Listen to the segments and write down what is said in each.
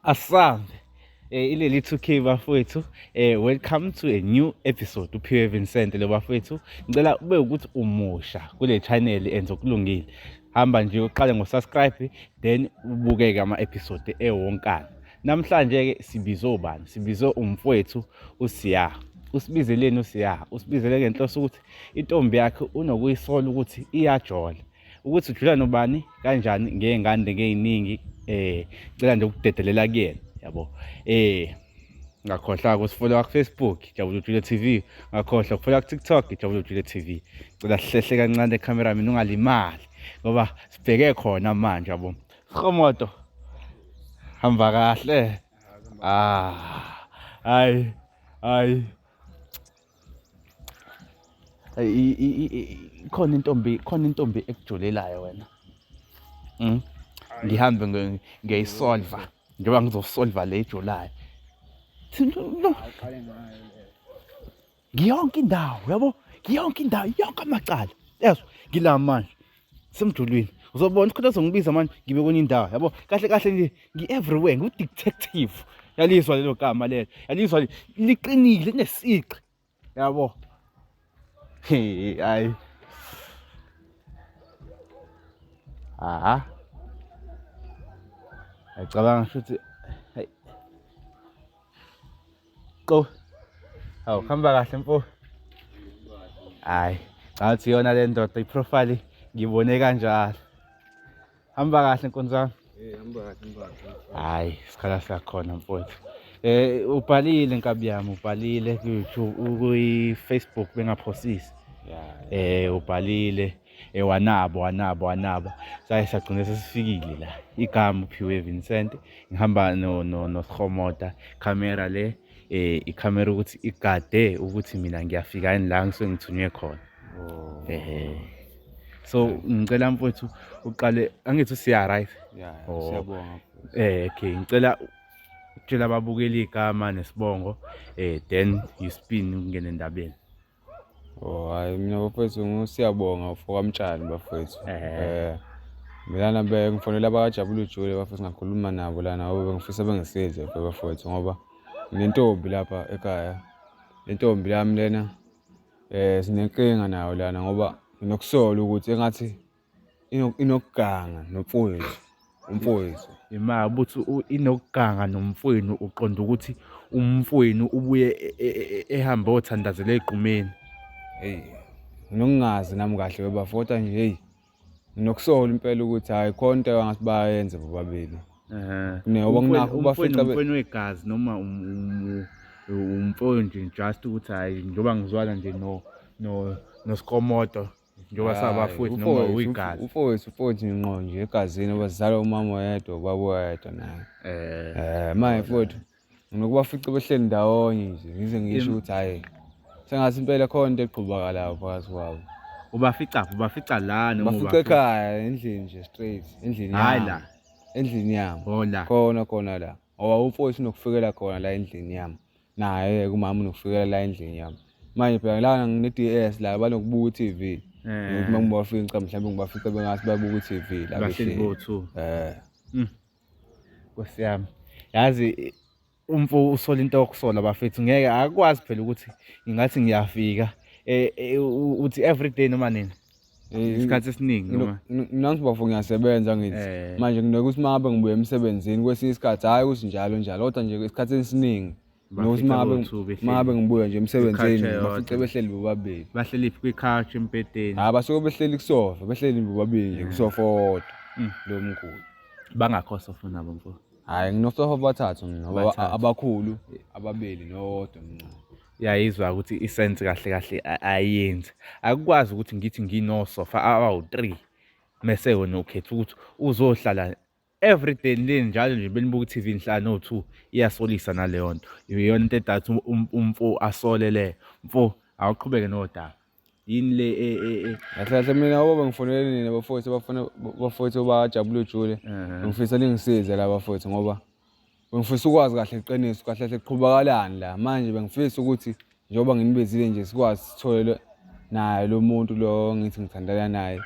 Asambe eh ileli 2K bafowethu eh welcome to a new episode uphiwe Vincent lo bafowethu ngicela ube ukuthi umusha kule channel enze okulungile hamba nje uqale ngo subscribe then ubuke ke ama episode ewonkana namhlanje ke sibize ubani sibize umfowethu usiya usibizeleni usiya usibizele ngenhloso ukuthi intombi yakhe unokuyisola ukuthi iyajola ukuthi udlula nobani kanjani ngey'ngane ngey'ningi um cela nje ukudedelela kuyena yabo um ngakhohlwa kusifollowa kufacebook jabula ujule t v ngakhohlwa kufollowa kutiktok jabula ujule t v cela sihlehle kancane ekhamera mina ungalimali ngoba sibheke khona manje yabo sihomoto hamba kahle ah hayi hayi khona intombi khona intombi ekujulelayo wena mm ngihambe ngiyayisolva njengoba ngizosolva le ejulayo ngiyonke indawo yabo ngiyonke indawo yonke amacala yezwa ngila manje semdulwini uzobona isikhathi azongibiza manje ngibe kwenye indawo yabo kahle kahle nje ngi-everywhere ngiwu-detective yalizwa lelo gama lelo yalizwa liqinile linesiqi yabo hayi aha ayicabanga futhi qo hawu khamba kahle mfo hayi ngathi yona le ndoda iprofile ngibone kanjalo hamba kahle nkonzo yami hayi isikhala sakhona mfowethu eh ubhalile nkabi yami ubhalile ku-youtube kuyi-facebook bengaphosisi eh ubhalile yeah. e wanabo wanabo wanabo saye sagcina sesifikile la igama uphiwe Vincent ngihamba no no nosihomota camera le eh icamera ukuthi igade ukuthi mina ngiyafika yini la ngisuke ngithunywe khona oh. ehe so ngicela mfowethu uqale angithi usiya right yeah oh. siyabonga eh okay ngicela tshela ababukeli igama nesibongo eh then you spin ungene endabeni Oh hayi mina bafethu siyabonga ufokamtshani bafethu. Eh mina lana bengifonela abakajabula ujule bafethu ngakhuluma nabo lana ngoba bengifisa bengisize bafethu ngoba nginentombi lapha ekhaya. Intombi yami lena eh sinenkinga nayo lana ngoba nginokusola ukuthi engathi inokuganga nomfowethu umfowethu imali ukuthi inokuganga nomfowenu uqonda ukuthi umfowenu ubuye e, e, e, ehambe othandazela egqumeni hey nginongazi nami kahle webafota nje hey nginokusola impela ukuthi hayi khona into engathi bayenze bobabili ngoba nginakho bafica umfowenu wegazi noma umfowenu nje just ukuthi hayi njengoba ngizwana nje no no nosikomoto njengoba sabafowethu noma uyigazi ufowethu ufowethu ngqo nje egazini bazala umama oyedwa ubaba oyedwa naye eh, eh manje mfowethu nginokubafica behleli ndawonye nje ngize ngisho ukuthi hhayi sengathi impela khona into egqubakalayo phakathi kwabo ubafica ubafica la noma ubafica ekhaya endlini nje straight endlini hayi la endlini yami oh, khona khona la ngoba umfowethu unokufikela khona la endlini yami Naye kumama unokufikelela la endlini yami. Manje phela la ngine-DS la banokubuka i-TV. Eh. Ukuthi uma ngibafinca mhlawumbe ngibafica bengathi babuka i-TV la Bahleli behleli. bo-two. Eh. Nkosi yami. Yazi umfo usola into okusola bafethu ngeke akwazi phela ukuthi ngingathi ngiyafika. Eh eh, u- uthi every day noma nini. Eh, isikhathi esiningi noma nami bafo ngiyasebenza ngithi eh. manje nginoke ukuthi mangabe ngibuye emsebenzini kwesinye isikhathi hhayi ukuthi njalo njalo kodwa nje isikhathi esiningi nokuthi mangabe ngibuye nje emsebenzini bafice behleli bobabili bahleli phi kwi-couch embhedeni hhayi basuke behleli kusofa behleli bobabili nje kusofa owodwa mm. lo mkhulu bangakho sofa nabo mfowethu Hayi nginosofa abathathu mina ngoba Abathathu. abakhulu ababili nowodwa mncane. Uyayizwa ukuthi isense kahle kahle a- ayenzi. Akukwazi ukuthi ngithi nginosofa abawu-3 mese wena ukhetha ukuthi uzohlala every day le njalo nje benibuka i-TV nihlala no-2 iyasolisa naleyo nto. Iyona into edatha um- umfo asole leyo. Mfo awuqhubeke nodaba. yini le e, e, e. kahle kahle mina obaba ngifonele nina bafowethu bafuna bafowethu bajabule ujule ngifisa ningisize la bafowethu ngoba bengifisa ukwazi kahle iqiniso kahle kahle kuqhubakalani la manje bengifisa ukuthi njengoba nginibezile nje sikwazi sithole naye lo muntu lo ngithi ngithandana naye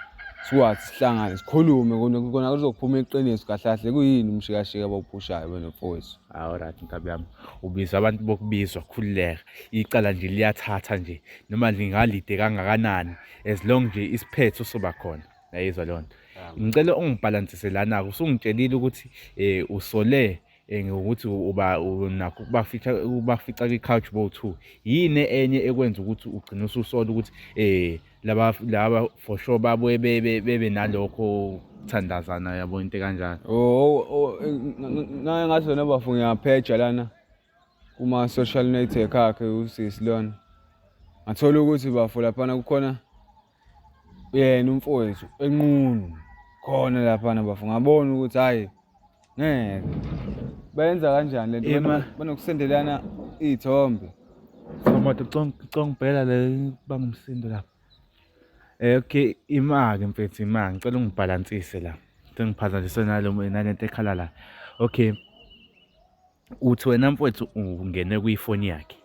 sikwazi sihlangane sikhulume kona kuzophuma iqiniso kahle kahle kuyini umshikashika abawuphushayo wena mfowethu hawu right nkabi yami ubiza abantu bokubizwa khululeka icala nje liyathatha nje noma lingalide kangakanani as long nje isiphetho soba khona yayizwa leyo nto ngicela ungibhalansise lana-ke usungitshelile ukuthi um usole um ngokuthi uba nakho ukubafica ukubafica kwi-couch bow two yini enye ekwenza ukuthi ugcine ususola ukuthi um laba laba for sure babuye bebe nalokho kuthandazana yabo into ekanjalo o oh, oh, oh, ngathi wena bafu ngiyapheja lana kuma-social network akhe usisi lona ngathola ukuthi bafo laphana kukhona yena umfowethu enqunu khona laphana bafo ngabona ukuthi hhayi ngeke bayenza kanjani le nto banokusendelana iy'thombe somoto congibhela le bangumsindo lapho um okay imake mfethu imake ngicela ungibhalansise la sengiphazanyiswe nalo nalento ekhala la okay uthi wena mfwethu ungene kwifoni yakhe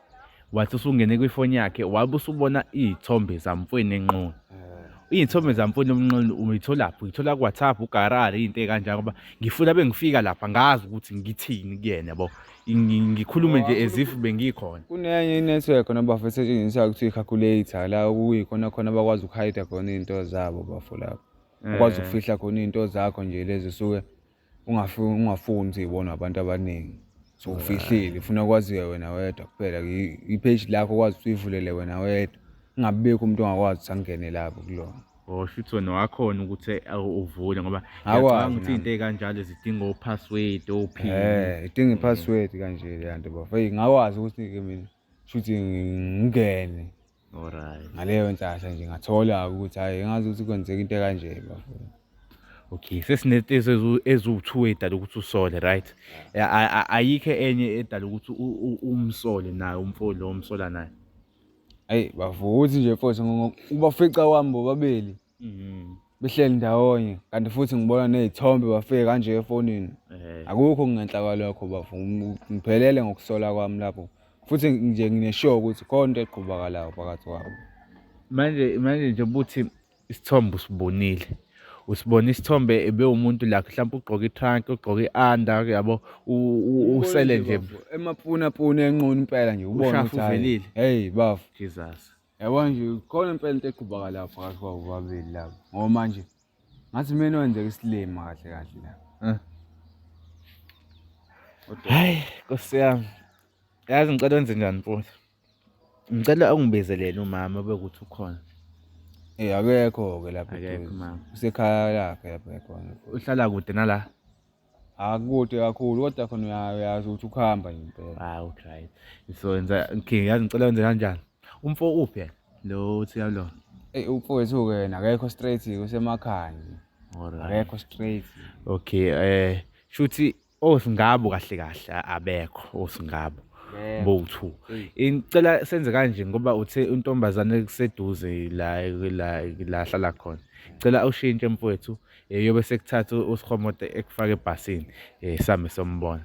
wathi usungene kwifoni yakhe wabe usubona iy'thombe zamfweni enqunu eh. iy'thombe zamfweni omnqunu uyitholaphi uyithola ku-whatsapp ugarari iy'nto ey'kanjani ngoba ngifuna bengifika lapha ngazi ukuthi ngithini kuyena bo ngikhulume nje as if bengikhona kunenye inetwork khona bafo esetshenziswayo kuthiwa i-calculator la okuyikhona khona bakwazi ukuhayida khona iy'nto zabo bafo lapho ukwazi eh. ukufihla khona iy'nto zakho nje lezi suke ungafuni ukuthi ibonwe abantu abaningi so ufihlile ufuna kwaziwe wena wedwa kuphela i-page lakho kwazi ukuthi uyivulele wena wedwa kungabibikho umuntu ongakwazi ukuthi angene lapho kulona or shuthi wena wakhona ukuthi uvule ngoba ngiyacabanga ukuthi into ekanjalo zidinga o-password o-pin eh idinga i-password kanje le nto bafo hey ngakwazi ukuthi-ke mina shuthi ngingene Alright. ngaleyo nhlahla nje ngathola ukuthi hhayi ngazi ukuthi kwenzeka into ekanje bafuna Okay, sesinetezi ezu- eziwu-two edala ukuthi usole, right? A- a- a- Ayikho enye edala ukuthi u- u- umsole naye umfo lo omsola naye. ayi bavuthi nje futhi ngoba ubafica wami bobabili Mhm. Behleli ndawonye kanti futhi ngibona nezithombe bafike kanje efonini. Eh. Akukho ngenhla kwalokho bafo. Ngi- Ngiphelele ngokusola kwami lapho. Futhi nje ngineshow ukuthi khona into eqhubakalayo phakathi kwabo. Manje manje nje buthi isithombe usibonile. Usibona isithombe ebe umuntu la mhlawumbe ugqoka itrunk, ugqoka ianda yabo u- u- usele nje Emapuna puna enqunu impela nje ubona Ushafu ukuthi hhayi, uvelile. Hey bafo. Jesus. Yabo nje khona impela into eqhubaka la phakathi kwabo babili labo. Ngoba manje ngathi mina wenzeka isilima kahle kahle la. Eh. Hayi Nkosi yami. Yazi ngicela wenze njani mfowethu? Ngicela ungibizelele umama bekuthi ukhona. Eh akekho ke lapha. Akekho mama. Usekhaya lakhe lapha ekhona. Uhlala kude nala. akude kakhulu kodwa khona uya- uyazi ukuthi ukuhamba nje impela hayi udrayive so yenza okay yazi ngicela wenze kanjani umfo uphi yena lo uthi yalona eyi umfowethu-ke yena akekho straight-ke usemakhaya nje alright akekho straight okay eh shuthi osingabo kahle kahle a- abekho osingabo Yebo. bowu-two Eyi. ngicela senze kanje ngoba uthe untombazane kuseduze la la la hlala khona ngicela ushintshe mfowethu um yobe sekuthatha usihomote ekufake ebhasini um same sombona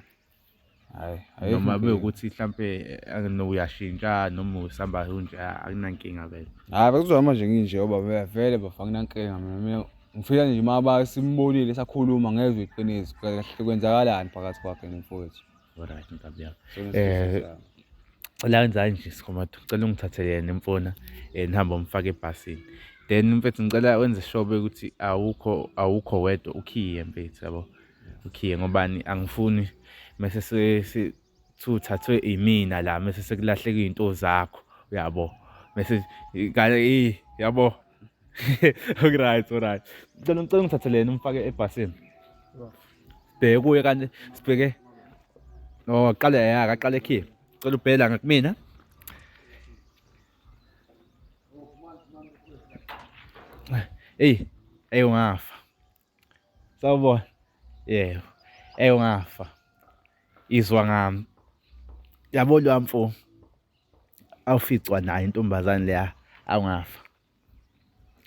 noma bewukuthi mhlampe eh, uyashintsha noma usamba unje ah, akunankinga vele hayi bekuzohamba nje nginje oba vele bafa nginankinga mina ngifika nje uma basimbonile sakhuluma ngezwe iqiniso kahle kwenzakalani phakathi kwakhe nomfowethu Alright nkabi yami. Eh cela wenzani nje sikhomathu cela ungithathele yena imfona eh nihamba umfake ebhasini then mfethu ngicela wenze shobe ukuthi awukho awukho wedwa ukhiye mfethu yabo ukhiye ngobani angifuni mase sesuthathwe imina la mase sekulahleka izinto zakho uyabo mase kale yabo Okuright, alright. Ngicela ngicela ungithatheleni umfake ebhasini. Bheke kuye kanti sibheke. Oh, aqale ya, aqale ekhipha. Cela ubhela ngakumina. Hey, hey ungafa. sawubona yebo ey ungafa izwa ngami yabo lo mfo awuficwa nayo intombazane leya awungafa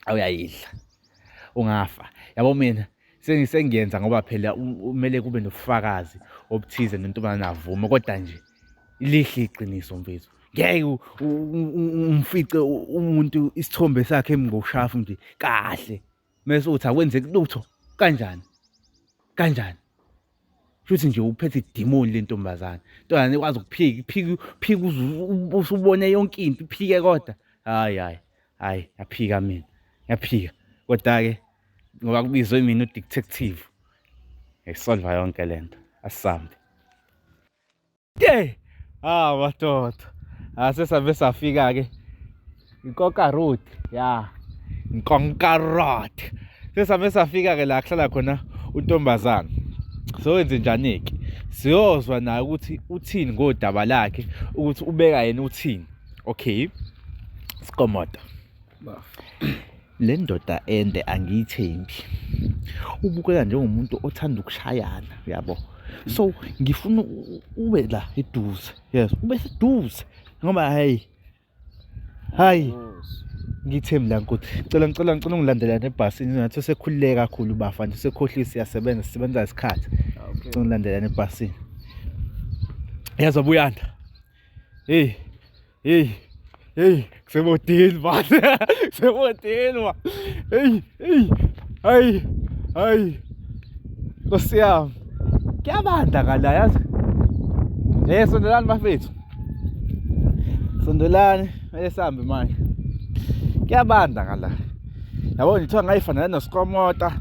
awuyayidla ungafa yabo mina sengisengiyenza ngoba phela kumele kube nobufakazi obuthize nentombazane avume kodwa nje lihle iqiniso mfethu ngeke umfice umuntu isithombe sakhe emngoshafu nje kahle mese uthi akwenzeki lutho kanjani kanjani futhi nje uphethe idimoni lentombazane ntombazane ikwazi ukuphika iphika phika usubone yonke into iphike kodwa hayi hayi hayi yaphika mina yaphika kodwa ke ngoba kubizwe mina udetective ngisolva yonke lento asambe Hey! Ah, madoda. Ase save safika ke. Nkoka road. Yeah. Nkonka road. Sesame safika ke la kuhlala khona untombazana. So enze njani ke? Siyozwa naye ukuthi uthini ngodaba lakhe ukuthi ubeka yena uthini. Okay. Sikomoda. le ndoda ende angiyithembi ubukeka njengomuntu othanda ukushayana uyabo so ngifuna ube la eduze yes ube seduze ngoba hayi hayi ngithembi la nkosi cela ngicela ngicela ungilandela nebhasini ngathi usekhululeke kakhulu bafa nje usekhohlile siyasebenza sisebenza isikhathi ah, ngicela ungilandela nebhasini yazi abuyanda hey Hey, hey, kusebotini bani? Kusebotini wa. Hey, hey. Ay, ay. Nkosi yami. Kuyabanda ngala yazi. Eh sondelani bafethu. Sondelani, mele sambe manje. Kuyabanda ngala. Yabo ngithiwa ngayifanele noskomota.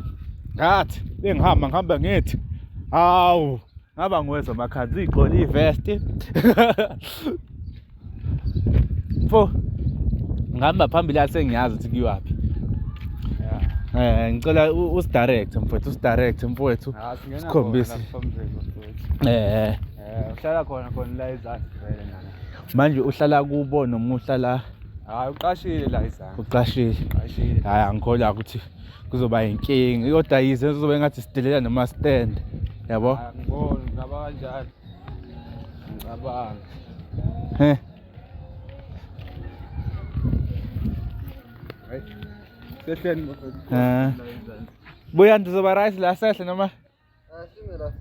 Ngathi bengihamba ngihamba ngithi. Hawu. ngaba nguwezwa amakhanzi uyigqola ivesti fo ngihamba phambili yathi sengiyazi ukuthi kuyiwaphi Eh ngicela usidirect mfowethu usidirect mfowethu ah, sikhombise eh, eh uhlala khona khona la izansi vele nana manje uhlala kubo noma uhlala hayi uqashile la izansi uqashile uqashile hayi angikholwa ukuthi kuzoba yinkinga kodwa yize kuzobe ngathi sidelela noma stand yabo angiboni ngaba kanjani ngicabanga he Sehleni. Eh. Buya ndizoba right la sehle noma? Asime la.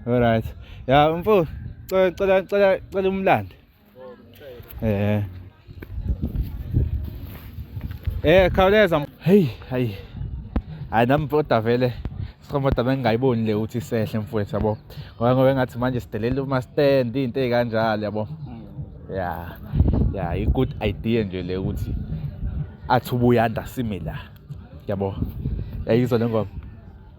Alright. Ya mfo, cela cela cela cela umlande. Eh. Eh khawuleza. Hey, hayi. Hayi nami mfoda vele. Sikhomota bengingayiboni le ukuthi sehle mfowethu yabo. Ngoba ngoba ngathi manje sidelela uma stand into ezikanjalo yabo. Hmm. Yeah. Yeah, i good idea nje le ukuthi athi ubuyanda sime la. Yabo. Yayizwa lengoma.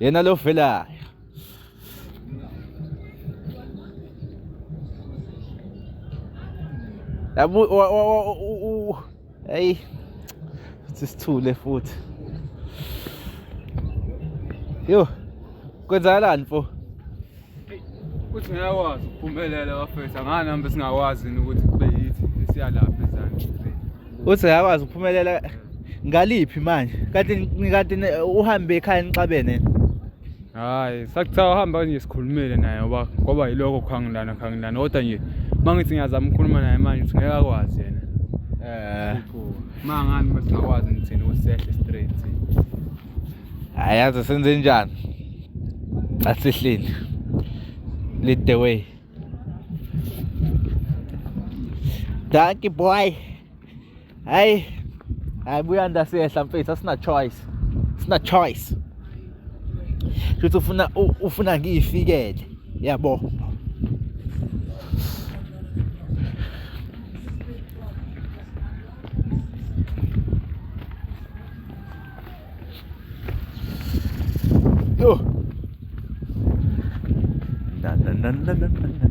Yan na Lofela. Abu, o, o, o, o, o, ay, sisithule futhi. Yo, kwenzakalani mfo? Uthi ngiyakwazi ukuphumelela bafethu angani hambe singakwazi yini ukuthi kube yithi esiyalapha ezansi. Uthi ngiyakwazi ukuphumelela ngaliphi manje? Kanti kanti uhambe ekhaya nixabene. Hayi, sakuthiwa uhamba nje sikhulumile naye ngoba ngoba yilokho khangilana khangilana kodwa nje mangithi ngiyazama ukukhuluma naye manje uthi ngeke akwazi yena. Eh. Mangani masingakwazi ngithini usehle straight. ayazi senze njani asihleli lead the way danki boy hayi hayi buya ndasehla mfethu asina choice sina choice futhi ufuna ufuna ngiyifikele yabo Yo. Na na na na na na.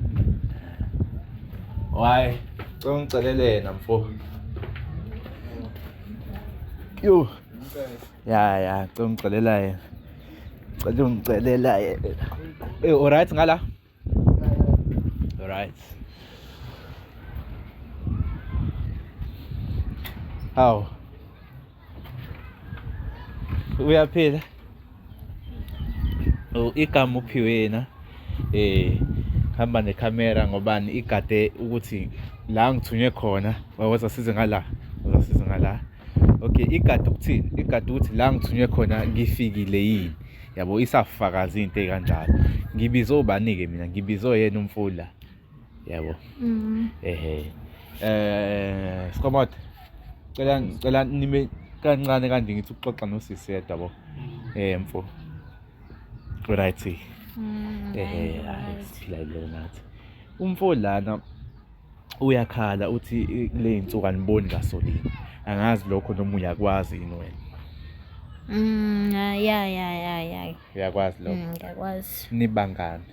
Why? Cela ungicelelena mfo. Yo. Ya ya, cela ungicelela yena. Cela ungicelela yena. Eh, alright ngala. Alright. How? Uyaphila? Oh, igama uphiwe na? Eh, hamba necamera ngobani igade ukuthi la ngithunywe khona wawuzasize ngala. Uzasize ngala. okay igadi ukuthini igadi ukuthi la ngithunywe khona ngifikile yini yabo isafakaza into ekanjalo ngibize obani-ke mina ngibize yena umfula yabo mm-hmm. ehe eh skomot cela cela nime kancane kanje ngithi uxoxa nosisi yedwa bo mm-hmm. eh mfo right mm-hmm. ehe siphila lelo nathi umfo lana uyakhala uthi kule y'nsuku aniboni gasoline angazi lokho noma uyakwazi yini wena Mm, ah, ya ya ya ya. uyakwazi lokho Mm, ngiyakwazi. nibangani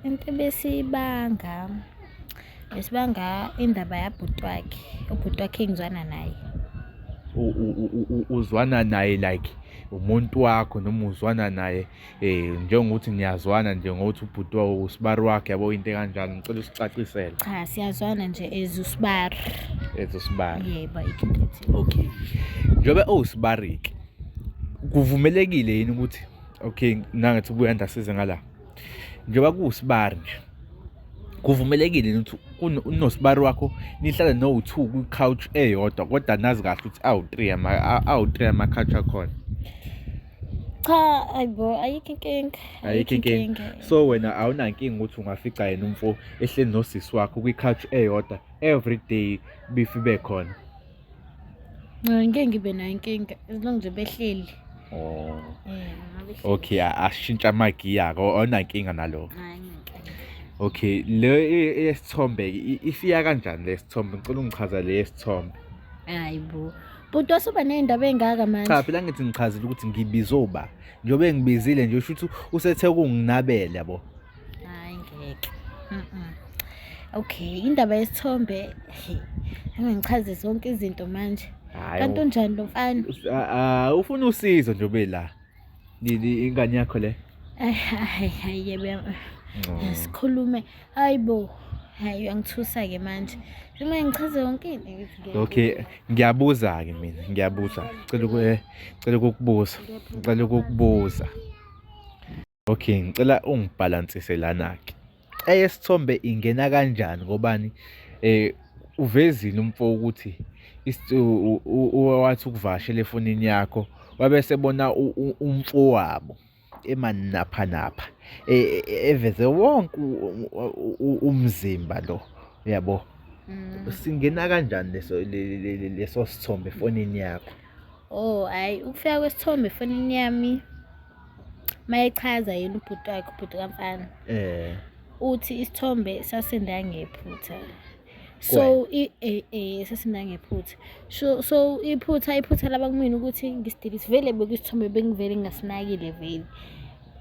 Into besibanga besibanga indaba yabhuti wakhe. Ubhuti wakhe engizwana naye. U- u- u- u- uzwana naye like umuntu wakho noma uzwana naye eh njengokuthi niyazwana nje ngokuthi ubhuti wawo usibari wakhe yabo into kanjani ngicela usicacisele cha siyazwana nje as usibari as usibari yebo ikhethi okay njobe owusibari ke kuvumelekile yini ukuthi okay nangathi ubuya ndasize ngala njoba kuwusibari nje kuvumelekile yini ukuthi unosibari wakho nihlale no-two kwi-couch eyodwa kodwa nazi kahle ukuthi awu-three awu-three ama-couch akhona cha ayibo ayikho inkinga ayikho inkinga so wena awunankinga ukuthi ungafica yena umfo ehleli nosisi wakho kwi-couch eyodwa every day bifi bekhona ngeke ngibe nayo inkinga as long nje behleli oh okay ashintsha amagiya ko awunankinga nalo okay le esithombe ifika kanjani lesithombe ngicela ungichaza le esithombe hayibo bhuti wasuba ney'ndaba ey'ngaka manje cha phela ngithi ngichazile ukuthi ngibize uba njengoba engibizile nje usho ukuthi usethe ukunginabela yabo hayi ngeke Mm-mm. okay indaba yesithombe he, angangichaze zonke izinto manje Hhayi, kanti unjani lo mfana u- a- a- ufuna usizo njengobe la ingane yakho le hayi oh. sikhulume hayi bo hayi uyangithusa ke manje uma ngichaze yonke into okay ngiyabuza ke mina ngiyabuza cela eh, cela ukukubuza ngicela ukukubuza okay ngicela ungibhalansise lana ke eyesithombe ingena kanjani ngobani eh uvezile umfo ukuthi wathi ukuvashela efonini yakho wabese bona umfowabo emanapha napha e, e, e, eveze wonke umzimba lo yabo mm. singena kanjani leso leso sithombe efonini yakho oh hayi ukufika kwesithombe efonini yami mayechaza yena ubhuti wakhe ubhuti kamfana eh uthi isithombe sasinda ngephutha so eh, eh, sasinda ngephutha so so iphutha iphutha laba kumina ukuthi ngisidilise vele bekwisithombe bengivele ngingasinakile vele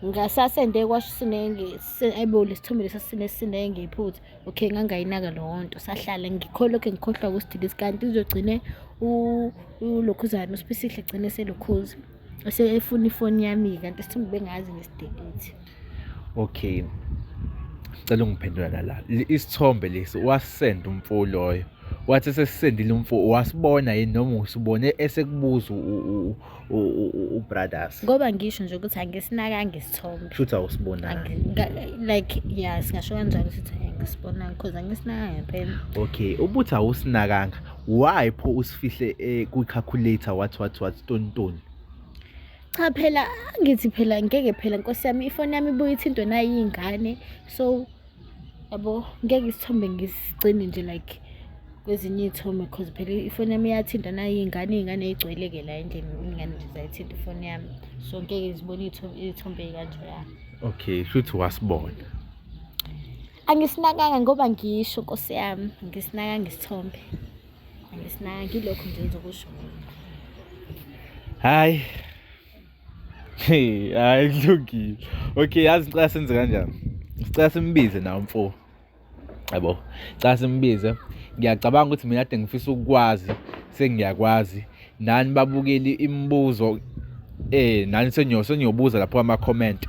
ngasasende kwasho sinenge ayibole isithombe lesa sine sinenge iphutha okay ngangayinaka leyo nto sahlala ngikholokhe ngikhohlwa kusidilise kanti uzogcine ulokhuzana usipisihle gcine selokhuza efuna ifoni yami kanti sithumbe bengazi ngesidebate okay cela ungiphendula lala isithombe lesi wasend umfo loyo wathi sesisendile umfo wasibona yini noma usibone esekubuza ubrothers ngoba ngisho nje ukuthi angisinakange isithombe futhi awusibonanga like yeah singasho kanjalo ukuthi angisibonanga because angisinakange phela okay ubuthi awusinakanga why pho usifihle eh, kwi-calculator what what what tontoni cha phela angithi phela ngeke phela nkosi yami ifoni yami ibuye ithintwe nayiyingane so yabo ngeke isithombe ngisigcine nje like kwezinye iy'thombe cause phela ifoni yami iyathinta nayiyingane iy'ngane eyigcweleke la endlini iy'ngane nje zayithinta ifoni yami so ngeke zibone iy'thombe ey'kanjeyana okay shuthi wasibona angisinakanga ngoba ngisho nkosi yami angisinakanga isithombe angisinakanga ngilokho nje ngizokusho hayi Hey, hayi kulungile. Okay, yazi ngicela senze kanjani? Ngicela simbize nawo mfo. Yabo. Ngicela simbize. Ngiyacabanga ukuthi mina kade ngifisa ukukwazi, sengiyakwazi. Nani babukeli imibuzo eh nani sengiyobuza lapho ama comment.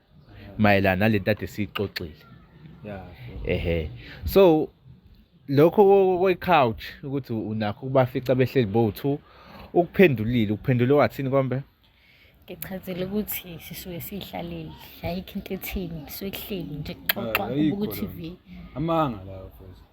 mayelana nalento ade siyixoxile yeah ehe so lokho kwe couch ukuthi unakho kubafica behleli bo 2 ukuphendulile ukuphendule wathini kombe ngichazile ukuthi sisuke sihlaleli ayikho into ethini sikuhleli nje kuxoxwa ubuku TV amanga lawo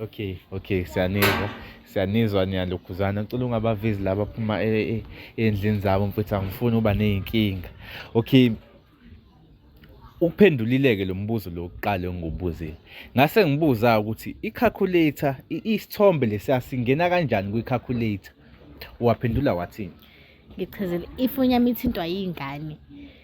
Okay, okay, siyanizwa siyanizwa niyalokhuzana ngicela ungabavezi laba phuma endlini e, zabo mfethu angifuni uba nezinkinga okay uphendulileke lo mbuzo lo kuqala engubuzile ngase ngibuza ukuthi i-calculator isithombe lesiya singena kanjani kwi-calculator waphendula wathini ngichazile ifoni yami ithintwa yingane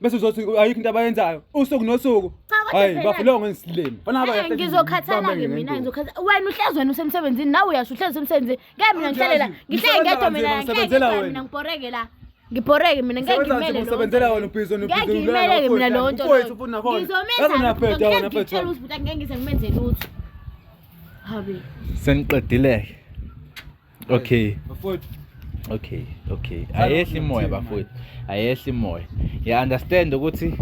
bese uzothi ayikho into abayenzayo usuku nosuku hayi bafile ngisilimi eh, ngizokhathala ke mina ngizokhathala wena uhlezi wena usemsebenzini nawe uyasho uhlezi usemsebenzini ngeke mina ngihlalela ngihlezi ngedwa mina ngeke mina ngibhoreke la ngibhoreke mina ngeke ngimele usebenzela wena ubhizo ngeke ngimele ke mina lo nto ngizomenza ngeke ngitshela ukuthi ngeke ngize ngimenze lutho habe seniqedileke Okay. Bafowethu. Okay, okay. Ayehli imoya bafowethu. Ayehli imoya. Ya understand ukuthi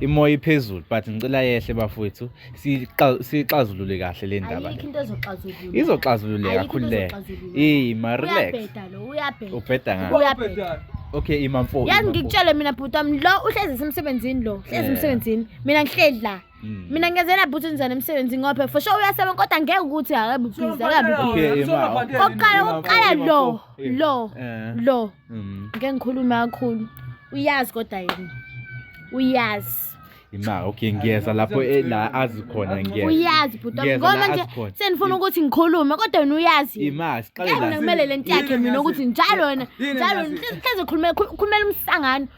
imoya iphezulu but ngicela yehle bafowethu sixazulule kahle le ndaba izoxazululeka khululeka eyi marelax ubheda ngani okay imamfo yazi ngikutshele mina bhuti wami lo uhlezi isemsebenzini lo hlezi emsebenzini mina ngihleli la Mm. mina ngenzela bhuti ngizana emsebenzi ngophe for sure uyasebenza kodwa ngeke ukuthi akabe busy akabe busy kokuqala kokuqala lo lo Eh. lo Mm. ngeke ngikhulume kakhulu uyazi kodwa yena uyazi Ima okay ngiyeza lapho e- la azi khona ngiyeza. uyazi bhuti wami. Ngiyeza la ngoba nje azi khona. sendifuna ukuthi ngikhulume kodwa wena uyazi yena. Ima siqale ngeke mina la. kumele le nto yakhe mina ukuthi njalo wena Yini njalo engazi- hleze khulumela khulumela umsangano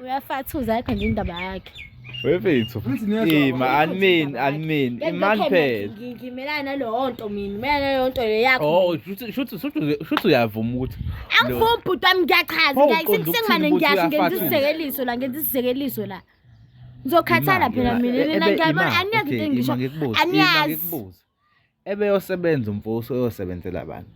uyafathuza yakhe nje indaba yakhe wefethu ima animeni animeni imani phela ngimelana naleyo nto mina melana naleyo nto le yakho oh shuthi shuthi shuthi uyavuma ukuthi angivumi bhuti wami ngiyachaza ngiyayisengimane ngiyasho ngenza isizekeliso la ngenza isizekeliso la ngizokhathala phela mina nina ngiyabona aniyazi into engisho aniyazi Ebeyosebenza umfosi oyosebenzela abantu.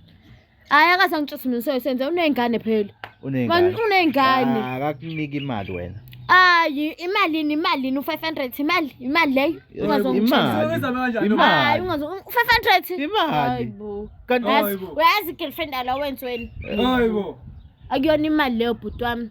Hayi akaze angitshuse mina useyosenze uney'ngane phela. Uney'ngane. Uney'ngane. Ah, akakuniki imali wena. Hayi imalini imalini u500 imali imali leyo ungazongitshela imali u500 imali kanti uyazi girlfriend alo wenzweni hayibo akuyona imali leyo bhuti wami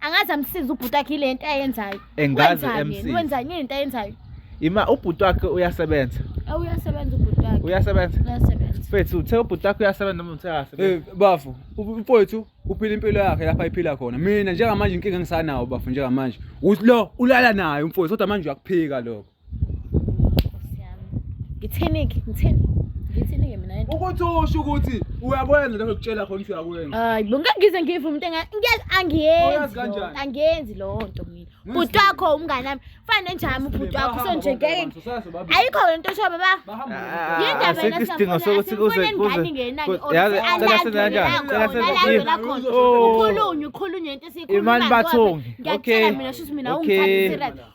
angazi amsiza ubhuti akhe ile nto ayenzayo engazi MC wenzani yini into ayenzayo ima ubhuti wakhe uyasebenza eh, uyasebenza ubhuti wakhe uyasebenza uyasebenza fethu uthe ubhuti wakhe uyasebenza noma uthe akasebenza eh bafo mfowethu uphila impilo yakhe lapha iphila khona mina njengamanje inkinga engisanawo bafo njengamanje uthi lo ulala naye umfowethu kodwa manje uyakuphika lokho ngithini-ke ngithini ngithini-ke mina ukuthi usho ukuthi uyakwenza lokho kutshela khona ukuthi uyakwenza hayi bo ngeke ngize ngive umuntu angiyenzi angiyenzi loo nto mina bhuti wakho umngane wami fane njami ubhuti wakho so nje ngeke ayikho le nto oshoba ba yindaba yena isidingo sokuthi kuze kuzekhulunywe khulunywe into esiyikhuimani bathongi ngiyakutshela mina shuthi mina ungithathe serious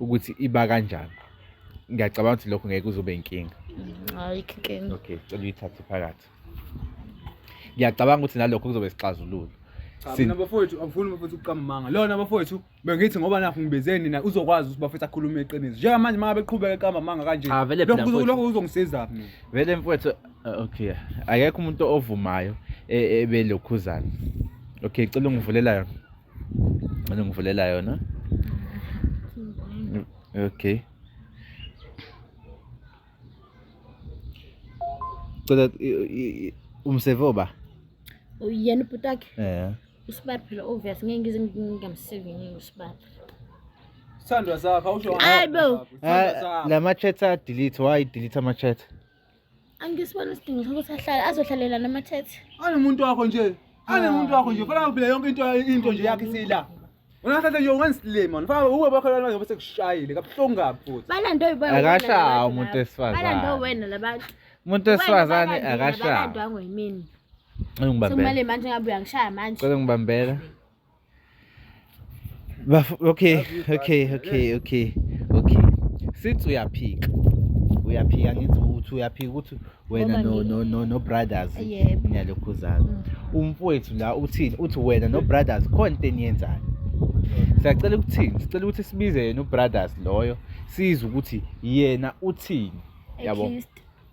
ukuthi iba kanjani ngiyacabanga ukuthi lokho ngeke uzobe inkinga ayikho inkinga okay cela uyithathe phakathi ngiyacabanga ukuthi nalokho kuzobe sixazululo Sina bafowethu angifuni bafowethu uqamanga. Lona bafowethu bengithi ngoba nakho ngibezeni na uzokwazi ukuthi bafethu akhulume iqiniso. Njenga manje manga beqhubeka eqamba manga kanje. Ah, vele phela Lokho mfowethu. lokho uzongisiza mina. vele mfowethu uh, okay akekho umuntu ovumayo e- ebelokhuzana okay cela ungivulela yona Anongivulela yona? Okay. Cela umseve oba? Uyena ubhuti wakhe? Eh. Usibari phela obvious ngeke ngize ngingamseve ngeke usibari. Sandwa zakho awusho. Hayibo. Eh, la ma chats a delete why delete ama chats? angisibona isidingo sokuthi ahlale azohlalela namathethe anomuntu wakho nje anomuntu wakho nje fanele phela yonke into into nje yakhe siyila Ungathatha yo wensley man. Faka uwe bakho lana ngoba sekushayile kabuhlungu kabi futhi. Balando uyiboya. Akashawa umuntu esifazane. Balando wena labantu. Umuntu esifazane akashawa. Balando angwe yimini. Ngibambela. Sekumale manje ngabe uyangishaya manje. Cela ngibambela. Baf okay, okay, okay, okay. Okay. Sithi uyaphika. Uyaphika ngithi ukuthi uyaphika ukuthi wena no no no no brothers niyalokhuzana. Mm. Umfowethu la uthini? Uthi wena no brothers khona into eniyenzayo. Siyacela ukuthini? Sicela ukuthi sibize yena ubrothers loyo sizwe ukuthi yena uthini. Yabo.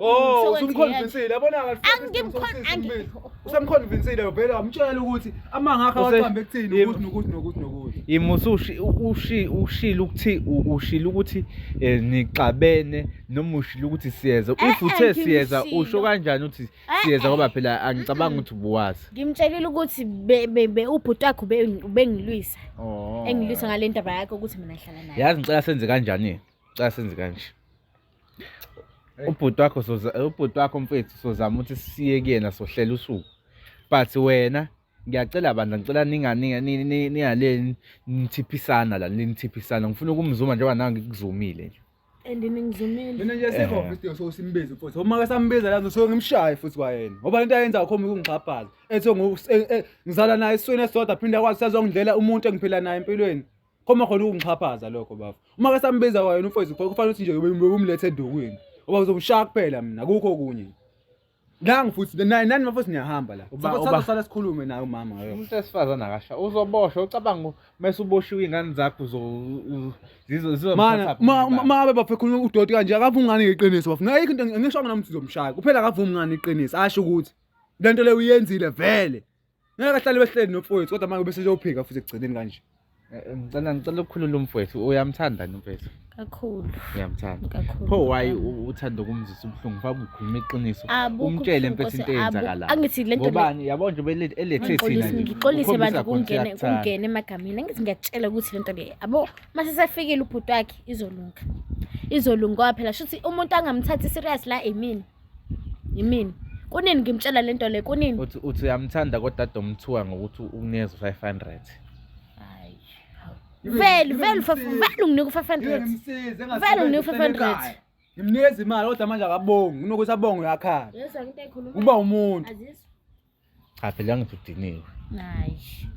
Oh, usumconvincile. Yabona kahle. Angimconvincile. Usamconvincile vele wamtshela ukuthi amanga akhe awaqambe ekuthini ukuthi nokuthi nokuthi nokuthi. Imusushi ushi ushilo ukuthi ushilo ukuthi eh, nixabene noma ushilo ukuthi siyeza. Eh, If uthe eh, siyeza usho kanjani ukuthi siyeza ngoba phela angicabanga ukuthi ubuwazi. Ngimtshelile ukuthi be ubhuti wakho ubengilwisa. Oh. Engilwisa ngalendaba yakhe ukuthi mina ngihlala naye. Yazi ngicela senze kanjani? Ngicela senze kanje. ubhuti wakho ubhuti wakho mfethu sozama ukuthi siye kuyena sohlela usuku but wena ngiyacela bandla ngicela ningaleni nithiphisana la nithiphisana ngifuna ukumzuma njengoba nawe ngikuzumile nje and ningizumile mina nje sekho eh. isidingo sokuthi simbize futhi uma ke sambiza la ngisuke ngimshaye futhi kwayena ngoba into ayenza akhomba ukungixhaphaza ethi e- e- ngizala naye isweni esodwa phinde akwazi sazongidlela umuntu engiphila naye empilweni Koma khona ukungixhaphaza lokho bafo. Uma ke sambiza wayona umfowethu pho kufanele ukuthi nje ubumlethe edukwini. Oba uzobushaya kuphela mina akukho okunye. Nangi futhi nani nani mafo siniyahamba la. Uba- Sasa uba- sala sikhulume naye umama ngayo. umuntu wesifazane akasha uzoboshwa ucabanga u- mese uboshiwe iy'ngane zakho uzo- u- zizo- zizomthatha Mana kuphi ma ubani? ma abe bafo khuluma udoti kanje akavumi ngani iqiniso bafo. Naye into ngisho ngana umthi zomshaya. Kuphela akavumi ngani iqiniso asho ukuthi lento le uyenzile vele. Ngeke ahlale behleli nomfowethu kodwa manje bese uyophika futhi ekugcineni kanje. Eh, eh, ngicela ngicela ukukhulula umfowethu uyamthanda ni umfowethu kakhulu uyamthanda kakhulu pho why uthanda ukumzisa ubuhlungu fa kukhuluma iqiniso umtshele impethu into eyenzakalayo angithi lento ngobani yabo nje belethe elethe thina ngixolise abantu kungene kungene emagamini angithi ngiyakutshela ukuthi lento le abo mase sefikile ubhuti wakhe izolunga izolunga phela shuthi umuntu angamthathi serious la emini yimina kunini ngimtshela le nto le kunini uthi uthi uyamthanda kodwa domthuka ngokuthi ukuneza 500 hayi vele vele vele unginika u500 vele unginika u500 ngimnikeza imali kodwa manje akabongi unokuthi abonge uyakhala uba umuntu Cha phela ngithi udiniwe. Hayi.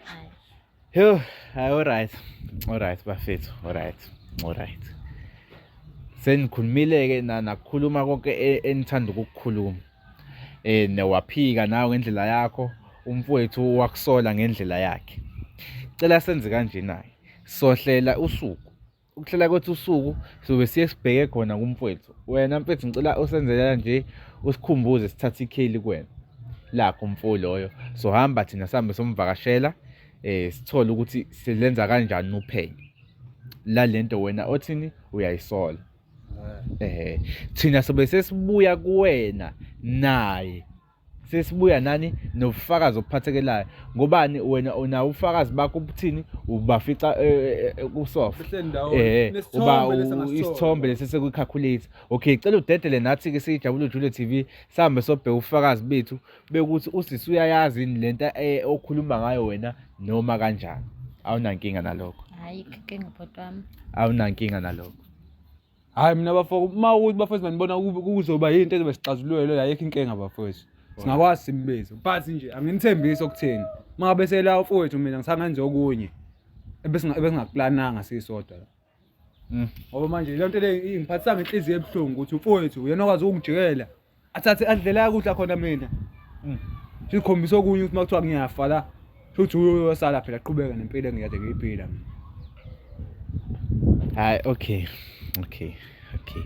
Hayi. Yo, hayi alright. Alright bafethu, alright. Alright. Senikhulumile ke na nakukhuluma konke e, enithanda ukukukhuluma. Eh newaphika nawe ngendlela yakho, umfowethu wakusola ngendlela yakhe. Cela senze kanje naye. Sohlela usuku ukuhlela kwethu usuku sobe siye sibheke khona kumfwethu wena mfethu ngicela usenzela nje usikhumbuze sithathe ikheli kuwena lakho mfo loyo so hamba thina sihambe somvakashela eh sithole ukuthi silenza kanjani uphenyo la lento wena othini uyayisola eh thina sobe sesibuya kuwena naye sesibuya nani nobufakazi obuphathekelayo ngobani wena unawo ubufakazi bakho ubuthini ubafica eh, eh, eh, kusofa eh uba isithombe lesi sekucalculate okay cela udedele nathi ke siyijabule Juliet TV sihambe sobheka ubufakazi bethu bekuthi usisi uyayazi lento okhuluma ngayo wena noma kanjani awunankinga nalokho hayi inkinga bhotwami awunankinga nalokho Hayi mina bafo uma ukuthi bafethu manibona ku- kuzoba yinto ezobe sixazulule leyo ayikho inkinga bafethu. Singakwazi simbize. But nje anginithembisi okutheni. Uma ngabe sela ufowethu mina ngisangenza okunye. Ebesinga ebesingakuplananga sisodwa la. Mm. Ngoba manje le nto le ingiphathisa ngenhliziyo ebuhlungu ukuthi ufowethu uyena okwazi ukungijikela athathe andlela yakudla khona mina mm. sikhombisa okunye ukuthi makuthiwa ngiyafa la futhi uyosala phela qhubeka nempilo engiyade ngiyiphila mina hayi okay okay okay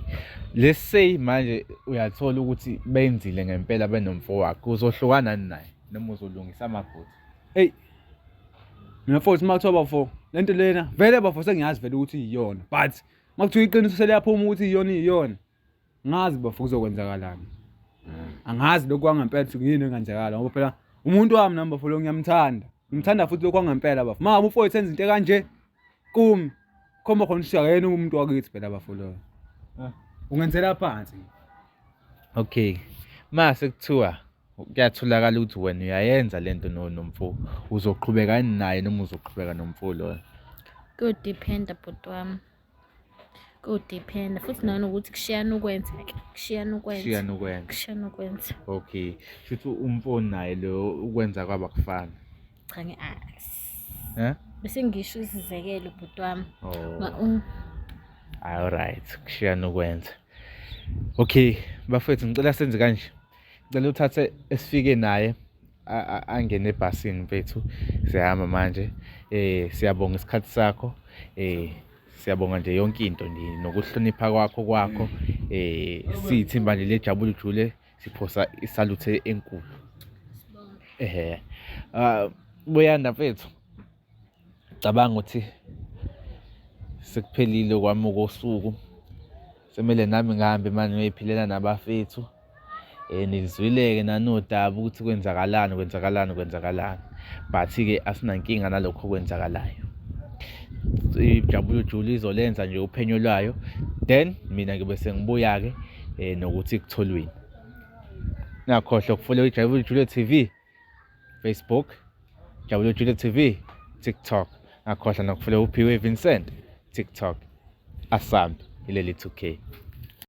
let's say manje uyathola ukuthi benzile ngempela benomfo wakhe uzohlukana naye noma uzolungisa amaphutha hey mina futhi makuthiwa bafo lento lena vele bafo sengiyazi vele ukuthi iyona but makuthiwa iqiniso seliyaphuma ukuthi iyona iyona Ngazi bafo kuzokwenzakalani. Angazi lokhu kwangempela ukuthi kuyini engenzakala ngoba phela umuntu wami nami bafo lo ngiyamthanda. Ngimthanda futhi lokhu kwangempela bafo. Uma ngabe umfowethu enza into ekanje kumi khomba khona ukuthi akayena umuntu wakithi phela bafo lo. Ah. Ungenzela phansi. Okay. Mase kuthiwa kuyatholakala ukuthi wena uyayenza lento no nomfo uzoqhubeka naye noma uzoqhubeka nomfo loyo kuyodependa bhuti wami kudiphenda futhi nanokuthi kushiyana ukwenza ke kushiyana ukwenza kushiyana ukwenza kushiyana ukwenza okay futhi umfoni naye lo ukwenza kwaba kufana cha ngi eh bese ngisho isizekelo bhuti wami oh. all right kushiyana ukwenza okay bafethu ngicela senze kanje ngicela uthathe esifike naye angene ebhasini mfethu siyahamba manje eh siyabonga isikhathi sakho eh siyabonga nje yonke into nje nokuhlonipha kwakho kwakho eh siyithimba nje lejabule jule siphosa isaluthe enkulu ehe ah buyanda mfethu Cabanga ukuthi sekuphelile kwami kosuku semele nami ngihambe manje ngiyiphilela nabafethu um eh, nilizwile-ke nanodaba ukuthi kwenzakalani kwenzakalani kwenzakalani but-ke asinankinga nalokho okwenzakalayo ijabulo jule izolenza nje uphenyo lwayo then mina ngibe sengibuya-ke um nokuthi kutholweni nakhohlwa ukufuna ijabulo jule t v Facebook Jabulo Jule TV TikTok akhohla nokufule uphiwe Vincent TikTok asambe ileli 2K